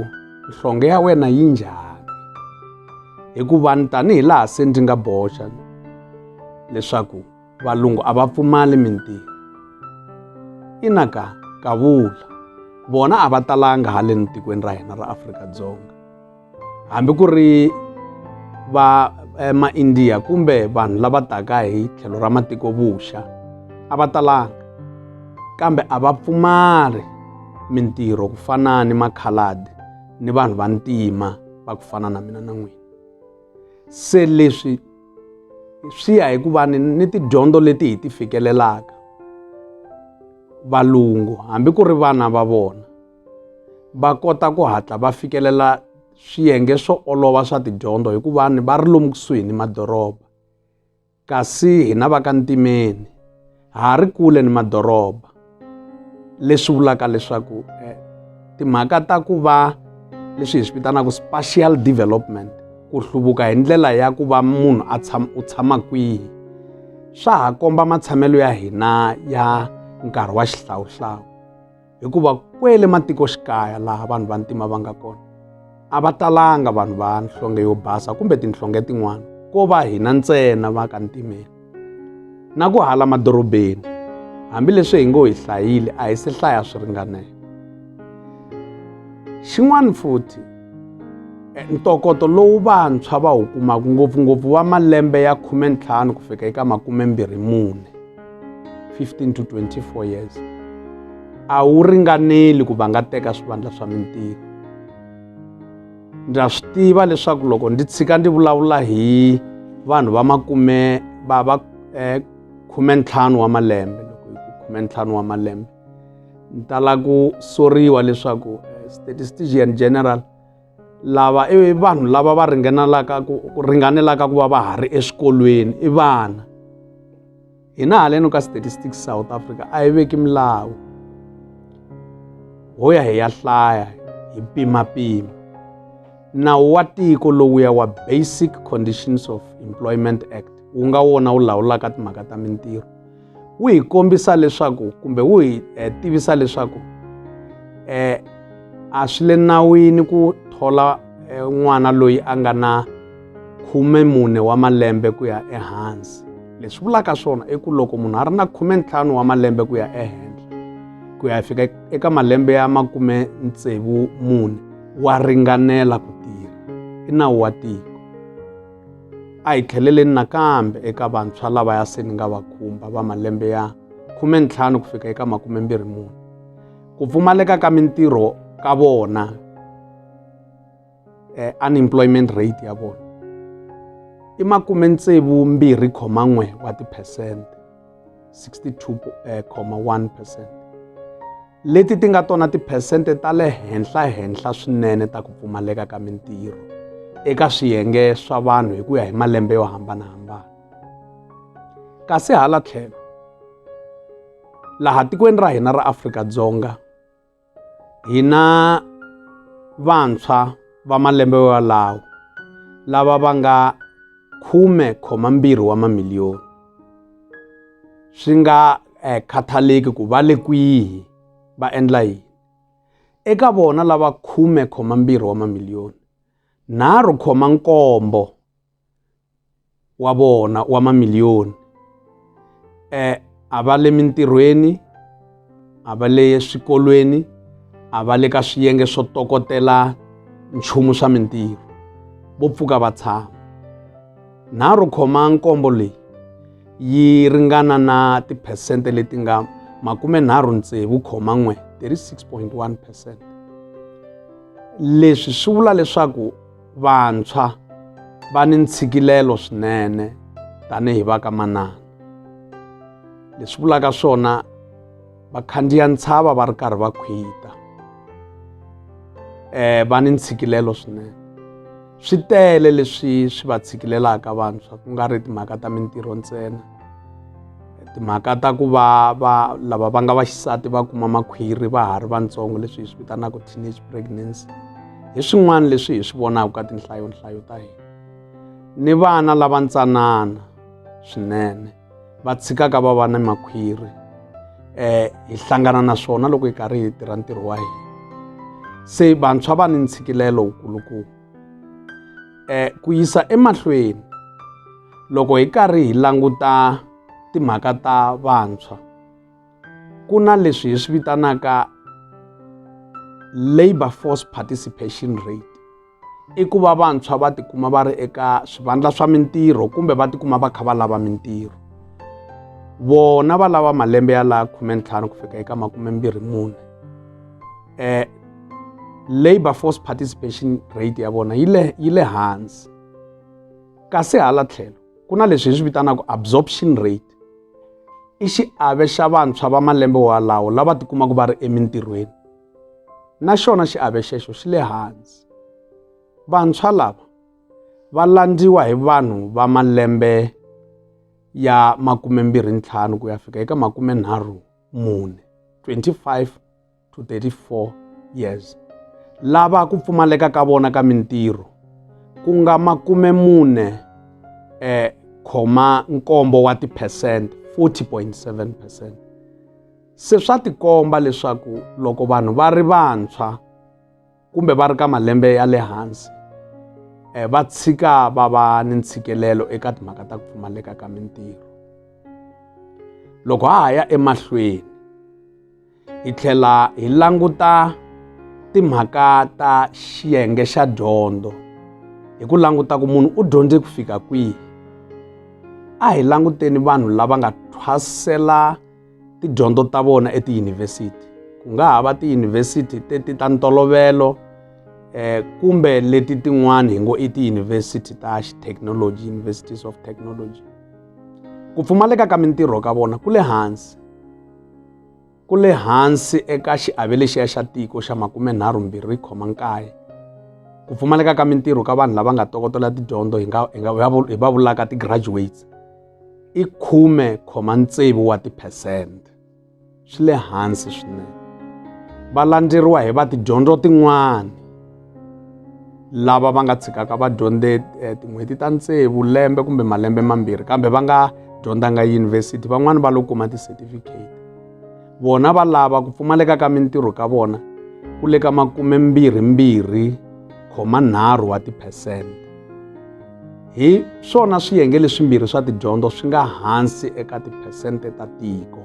nhlonge ya wena yi njhani hikuva ni tanihi laha se ndzi nga boxa leswaku valungu a va pfumali mintirho ina ka kavula vona a va talanga haleni tikweni ra hina ra Afrika-Dzonga hambi ku ri va eh, maindiya kumbe vanhu lava taka hi tlhelo ra matiko vuxa a va talanga kambe a va pfumali mintirho ku fana ni makhaladi ni vanhu va ntima va ku fana na mina na n'wina se leswi swi ya hi ku va ni ni tidyondzo leti hi ti fikelelaka valungu hambi ku ri vana va vona va kota ku hatla va fikelela swiyenge swo olova swa tidyondzo hikuva ni va ri lomu kusuhi ni madoroba kasi hina va ka ntimeni ha ha ri kule ni madoroba leswi vulaka leswaku eh, timhaka ta ku va leswi hi swi vitanaka spatial development ku hluvuka hi ndlela ya ku va munhu a tshama u tshama kwihi swa ha komba matshamelo ya hina ya nkarhi wa xihlawuhlawu hikuva kwele matikoxikaya laha vanhu va ntima va nga kona a va talanga vanhu va nhlonge yo basa kumbe tinhlonge tin'wana ko va hina ntsena va ka ntimeni na ku hala madorobeni hambileswi hi ngo hi hlayile a hi se hlaya swi ringanela xin'wana futhi eh, ntokoto lowu vantshwa va wu kumaka ngopfungopfu wa malembe ya khume ntlhanu ku fika eka makume mbirhi mune 15 to 24 years a wu ringaneli ku va nga teka swivandla swa mintirho ndza swi tiva leswaku loko ndzi tshika ndzi vulavula hi vanhu va makume va va eh, khume ntlhanu wa malembe loko hi ku khume ntlhanu wa malembe ni tala ku soriwa leswaku eh, statistician general lava i vanhu lava va ringanelaka ku ringanelaka ku va va ha ri eswikolweni i vana hina haleno ka statistics south africa a yi veki milawu ho ya hi ya hlaya hi pimapima nawu wa tiko lowuya wa basic conditions of employment act wu nga wona wu lawulaka timhaka ta mintirho wu hi kombisa leswaku kumbe wu hi eh, tivisa leswaku eh a swi le nawini ku thola eh, n'wana loyi a nga na khume mune wa malembe ku ya ehansi leswi vulaka swona i ku loko munhu a ri na khume ntlhanu wa malembe ku ya ehenhla ku ya fika eka malembe ya makume tsevu mune wa ringanela ku tirha i nawu wa tiko a hi tlheleleni nakambe eka vantshwa lavaya se ni nga va khumba va malembe ya khume ntlhanu ku fika eka makume mbirhi mune ku pfumaleka ka mintirho ka vona eh, unemployment rate ya vona i makume tsevu mbirhi khoma n'we wa tiphesente 62,1 leti ti nga tona tiphesente ta le henhla-henhla swinene ta ku pfumaleka ka mintirho eka swiyenge swa vanhu hi ku ya hi malembe yo hambanahambana kasi hala tlhelo laha tikweni ra hina ra afrika-dzonga hina vantshwa va malembe walawo lava va nga khume khoma mbirhi wa mamiliyoni swi nga eh, khathaleki ku va le kwihi va endla yini eka vona lava khume khoma mbirhi wa mamiliyoni nharhu khoma nkombo wa vona wa mamiliyoni eh a va le mintirhweni a va le swikolweni a va le ka swiyenge swo tokotela nchumu swa mintirho vo pfuka va tshama nharhu khoma nkombo leyi yi ringana na tiphesente leti nga makume nharhu ntsevu khoma n'we 36.1 percent leswi swi vula leswaku vantshwa va ni ntshikilelo swinene tanihi va ka manana leswi vulaka swona va khandziya ntshava va ri karhi va khwita um va ni ntshikilelo swinene swi tele leswi swi va tshikilelaka vantshwa ku nga ri timhaka ta mintirho ntsena timhaka ta ku va va lava va nga vaxisati va kuma makhwiri va ha ri vantsongo leswi hi swi vitanaka teenage pregnancy hi swin'wana leswi hi swi vonaka ka tinhlayonhlayo ta hina ni vana lava ntsanana swinene va tshikaka va va ni makhwiri um hi hlangana na swona loko hi karhi hi tirha ntirho wa hina se vantshwa va ni ntshikilelo wukulukumba um ku yisa emahlweni loko hi karhi hi languta timhaka ta vantshwa ku na leswi hi swi vitanaka labor force participation rate i ku va vantshwa va tikuma va ri eka swivandla swa mintirho kumbe va tikuma va kha va lava mintirho vona va lava malembe ya laha khumentlhanu ku fika eka makumembirhi mune um labor force participation rate ya vona yi le yi le hansi kasi hala tlhelo ku na leswi hi swi vitanaka absorption rate i xiave xa vantshwa va malembe walawo lava tikumaka va ri emintirhweni na xona xiave xexo xi le hansi vantshwa lava va landziwa hi vanhu va malembe ya makume mbirhi ntlhanu ku ya fika eka makume nharhu mune 25 to 34 years lava ku pfumaleka ka vona ka mintirho ku nga makume mune eh khoma nkombo wa tiphesent 40.7 percent se swa tikomba leswaku loko vanhu va ri vantshwa kumbe va ri ka malembe ya le hansi eh, va tshika va va ni ntshikelelo eka timhaka ta ku pfumaleka ka mintirho loko ha ha ya emahlweni hi tlhela hi languta timhaka ta xiyenge xa dyondzo hi ku languta ku munhu u dyondze ku fika kwihi a hi languteni vanhu lava nga thwasela tidyondzo ta vona etiyunivhesiti ku nga ha va tiyunivhesiti teti ta ntolovelo eh kumbe leti tin'wana hi ngo i tiyunivhesiti ta technology universities of technology ku pfumaleka ka mintirho ka vona ku le hansi ku le hansi eka xiave lexiya xa tiko xa makumenharhu mbirhi khoma nkaye ku pfumaleka ka mintirho ka vanhu lava nga tokotela tidyondzo hi nga hi nga hi va vulaka ti-graduates i 10,6 wa tiphesente. Swi le hansi swinene. Va landzeriwa hi va tidyondzo tin'wana lava va nga tshikaka va dyondze eh, tin'hweti ta tsevu lembe kumbe malembe mambirhi kambe va nga dyondzanga yunivhesiti van'wani va lo kuma ti-certificate vona va lava ku pfumaleka ka mintirho ka vona ku le ka makumembirhimbirhi khoma nharhu wa tiphesente Hi swona swiyenge leswimbirhi swa tidyondzo swi nga hansi eka tiphesente ta tiko.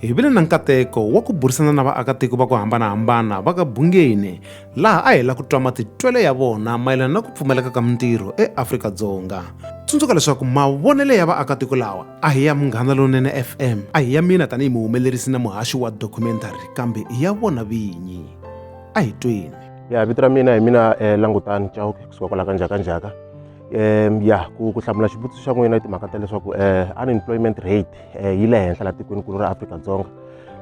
Hi vile na nkateko wa ku burisana na vaakatiko va ku hambana-hambana va ka Bungeni laha a hi la ku twa matitwelo ya vona mayelana na ku pfumaleka ka mintirho eAfrika-Dzonga. Tsundzuka leswaku mavonelo ya vaakatiko lawa a hi ya Munghana Lonene FM, a hi ya mina tanihi muhumelerisi na muhaxi wa documentary kambe i ya vona vinyi. A hi tweni. ya vito ra mina hi mina eh, langutani chauke kusuka kwala ka njhaka njhaka um ya ku ku hlamula xivutiso xa n'wina i timhaka ta leswaku um unemployment rate um yi le henhla laha tikweni kulu ra afrika-dzonga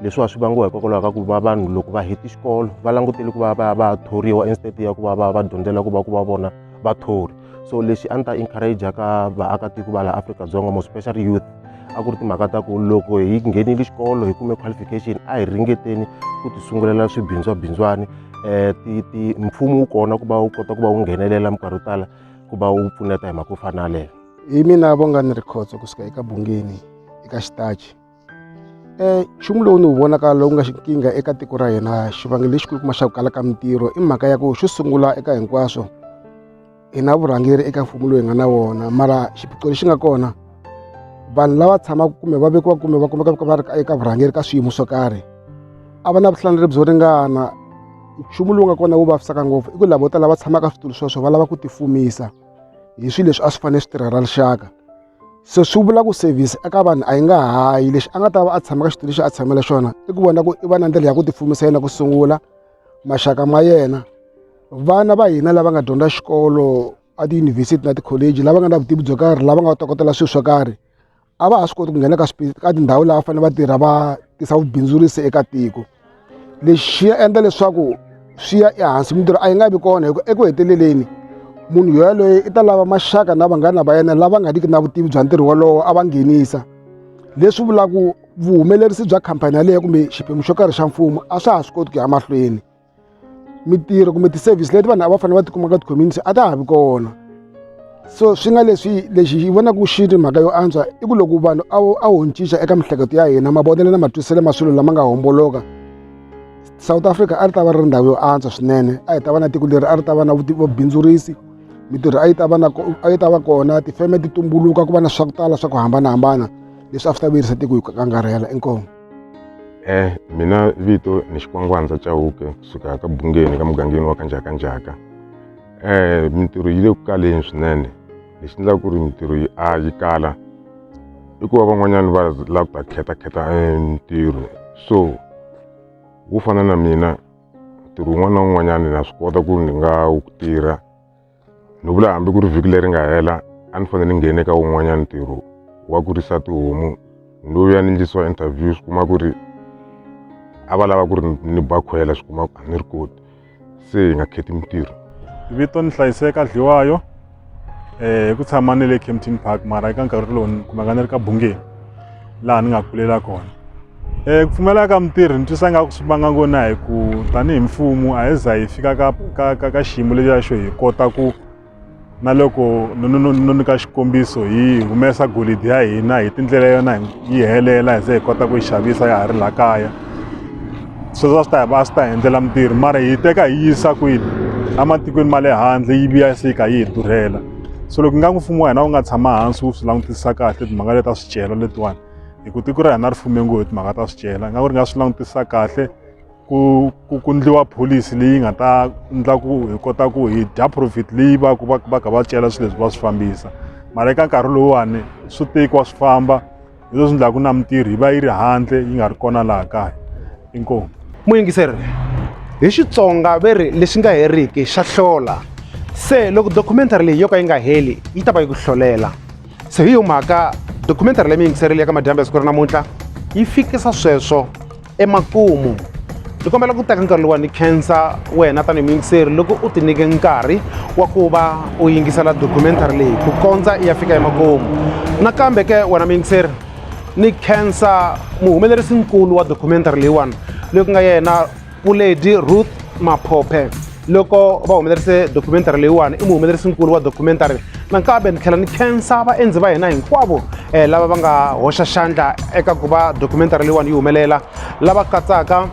leswiwa swi vangiwa hikokwalaho ka ku va vanhu loko va heti xikolo va langutele ku va va va thoriwa instead ya ku va va va dyondzela ku va ku va vona vathori so lexi a ni ta encourage ka vaakatiko va laha afrika-dzonga mo special youth a ku ri timhaka ta ku loko hi nghenile xikolo hi kume qualification a hi ringeteni ku ti sungulela swibindzwabindzwani um ti mfumo wu kona ku va wu kota ku va wu nghenelela minkarhi yo tala ku va wu pfuneta hi mhaka yo fana na leyo hi mina vonga ni ri khotso kusuka eka bungeni eka xitachi um nchumu lowu ni wu vonaka lowu nga nkingha eka tiko ra hina xivangelo lexikulu kuma xa ku kala ka mintirho i mhaka ya ku xo sungula eka hinkwaswo hi na vurhangeri eka mfumo lowu hi nga na wona mara xiphiqo lexi nga kona vanhu lava tshamaka kumbe va vekiwa kumbe va kumeka va ri eka vurhangeri ka swiyimo swo karhi a va na vuhlaneri byo ringana nchumu lowu nga kona wu vavisaka ngopfu i ku lavo tala va tshamaka switulu sweswo va lava ku tifumisa hi swilo leswi a swi fanele swi tirhela rixaka se swi vula ku service eka vanhu a yi nga hayi lexi a nga ta va a tshama ka xitulu lexi a tshamela xona i ku vona ku i va na ndlela ya ku tifumisa yena ku sungula maxaka ma yena vana va hina lava nga dyondza xikolo a tiyunivhesiti na tikholeji lava nga na vutivi byo karhi lava nga tokotela swilo swo karhi a va ha swi koti ku nghena ka ka tindhawu lava fanele va tirha va tisa vubindzurisi eka tiko lexi ya endla leswaku swi ya ehansi mintirho a yi nga vi kona hi ku eku heteleleni munhu yaloye i ta lava maxaka na vanghana va yena lava nga riki na vutivi bya ntirho wolowo a va nghenisa leswi vulaku vuhumelerisi bya khampani yaleyo kumbe xiphemu xo karhi xa mfumo a swa ha swi koti ku ya mahlweni mintirho kumbe ti-service leti vanhu a va fanele va tikuma ka ti-community a ta ha vi kona so swi nga leswi lexi yi vonaka ku xi ri mhaka yo antswa i ku loko vanhu a a ho cinca eka miehleketo ya hina mavonelo na matwiselo ma swilo lama nga homboloka south africa a ri ta va ri ndhawu yo antswa swinene a hi ta va na tiko leri a ri ta va na vubindzurisi mintirho a yi ta va na a yi ta va kona tifeme ti tumbuluka ku va na swa ku tala swa ku hambanahambana leswi a swi ta vuyerisa tiko hi ku angarhela inkomo Eh, mina vito ni xikwangwandza chauke kusuka ka bungeni ka mugangeni wa kanjakanjaka eh mintirho yi le ku kaleni swinene lexi endlaka ku ri mintirho yi a yi kala i ku va van'wanyana va lava ku ta khetakheta eh, mintirho so wo fana na mina ntirho wun'wana na wun'wanyana na swi kota ku ni nga wu tirha ni vula hambi ku ri vhiki leri nga hela a ni fanele ni nghene ka wun'wanyana ntirho wa ku risa tihomu ni lo ya ni ndlisiwa interview swi kuma ku ri a va lava ku ri ni bakhwela swi kuma a ni ri koti se hi nga kheti mintirho vito ni hlayiseka dliwayo um hi ku tshama ni le campton park mara eka nkarhi lowu ni kumaka ni ri ka bungeni laha ni nga kulela kona um ku pfumaleka ka mitirhi ni twisa nga ku swi vanga ngona hi ku tanihi mfumo a hi za hi fika ka ka ka ka xiyimo lexiya xo hi kota ku na loko no nyika xikombiso hi humesa golidi ya hina hi tindlela yona yi helela hi ze hi kota ku yi xavisa ya ha ri laha kaya sweswo a swi ta hi va a swi ta hi endlela mitirhi mara hi teka hi yisa kwini ematikweni ma le handle yi vuya se yi kha yi hi durhela so loko nga n'wi mfumo wa hina wu nga tshama hansi wu swi langutisa kahle timhaka leta swicelwa letiwani hi ku tiko ra hina ri fume ngo hi timhaka ta swicelwa nga ku ri nga swi langutisa kahle ku ku ku ndliwa pholisi leyi nga ta ndla ku hi kota ku hi dya profit leyi va ku va va kha va cela swilo leswi va swi fambisa mara eka nkarhi lowuwani swi tekiwa swi famba hi leswi ndlaku na mintirho yi va yi ri handle yi nga ri kona laha kaya inkomu muyingiseri hi xitsonga ve ri lexi nga heriki xa hlola se loko documentary leyi yo ka yi nga heli yi ta va yi ku hlolela se hi yo mhaka documentary leyi mi yingiserile ya ka madyambe ya siku ra namuntlha yi fikisa sweswo emakumu ni kombela ku teka nkarhi lowa ni khensa wena tanihi muyingiseri loko u ti nyike nkarhi wa ku va u yingisela documentary leyi ku kondza i ya fika emakumu nakambe ke wena muyingiseri ni khensa muhumelerisi nkulu wa documentary leyiwani loyi ku nga yena Puledi Ruth Maphophe loko va humelerise documentary leyiwani i muhumelerisinkulu wa documentary nakambe ni tlhela ni khensa vaendzi va hina hinkwavo um lava va nga hoxa xandla eka ku va documentary leyiwani yi humelela lava katsaka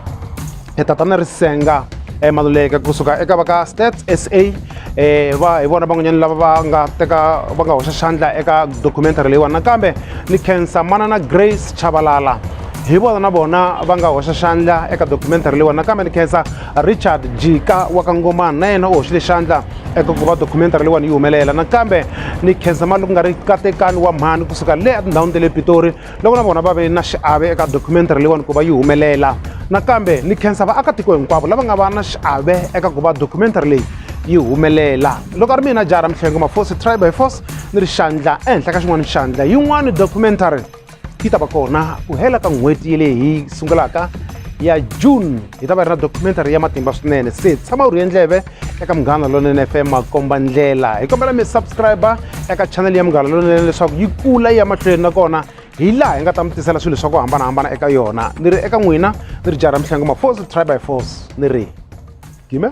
e tatana risenga e maluleka kusuka eka va ka stats s a um va hi vona van'wanyana lava va nga teka va nga hoxa xandla eka documentary leyiwani nakambe ni khensa manana grace chavalala hi vona na vona va nga hoxa xandla eka documentary leyiwani nakambe ni khensa richard jika wa ka ngomani na yena u hoxile xandla eka ku va documentary leyiwani yi humelela nakambe ni khensa mali ku nga ri katekani wa mhani kusuka le etindhawini ta le pitori loko na vona va ve na xiave eka documentary leyiwani ku va yi humelela nakambe ni khensa vaakatiko hinkwavo lava nga va na xiave eka ku va documentary leyi yi humelela loko a ri mina jara mihlengo mafosi tribe by force ni ri xandla ehenhla ka xin'wana xandla yin'wani documentary yi ta va kona ku hela ka n'hweti ya leyi hi sungulaka ya june hi ta va ri na documentary ya matimba swinene se tshama u ri endleve eka munghana lonene fm makomba ndlela hi kombela mi subscribe eka chanel ya munghana lonene leswaku yi kula ya mahlweni nakona hi laha hi nga ta mi tisela swilo swa ku hambanahambana eka yona ni ri eka n'wina ni ri jara mihlangu mafosi try by force ni ri gime